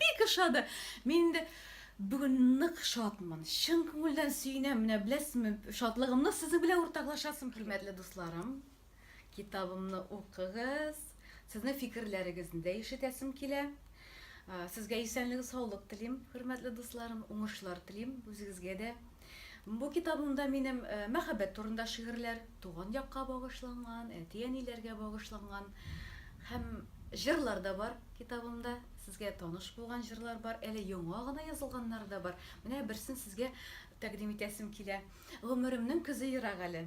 Бик ошады! Мин инде бүген нык шатмын, чын күңелдән сөенәм, менә беләсезме, шатлыгымны сезнең белән уртаклашасым килә. Хөрмәтле дусларым, китабымны укыгыз, сезнең фикерләрегезне дә ишетәсем килә. Сезгә исәнлек-саулык телим, хөрмәтле дусларым, уңышлар телим, үзегезгә дә Бу китабымда минем мәхәббәт турында шигырьләр, туган якка багышланган, әти-әниләргә багышланган һәм җырлар да бар китабымда. Сезгә таныш булган җырлар бар, әле яңа гына язылганнары да бар. Менә берсен сезгә тәкъдим итәсем килә. Гомеремнең көзе ерак әле.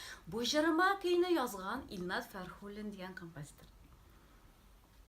Бу җырыма көйне язган Илнат Фәрхуллин дигән композитор.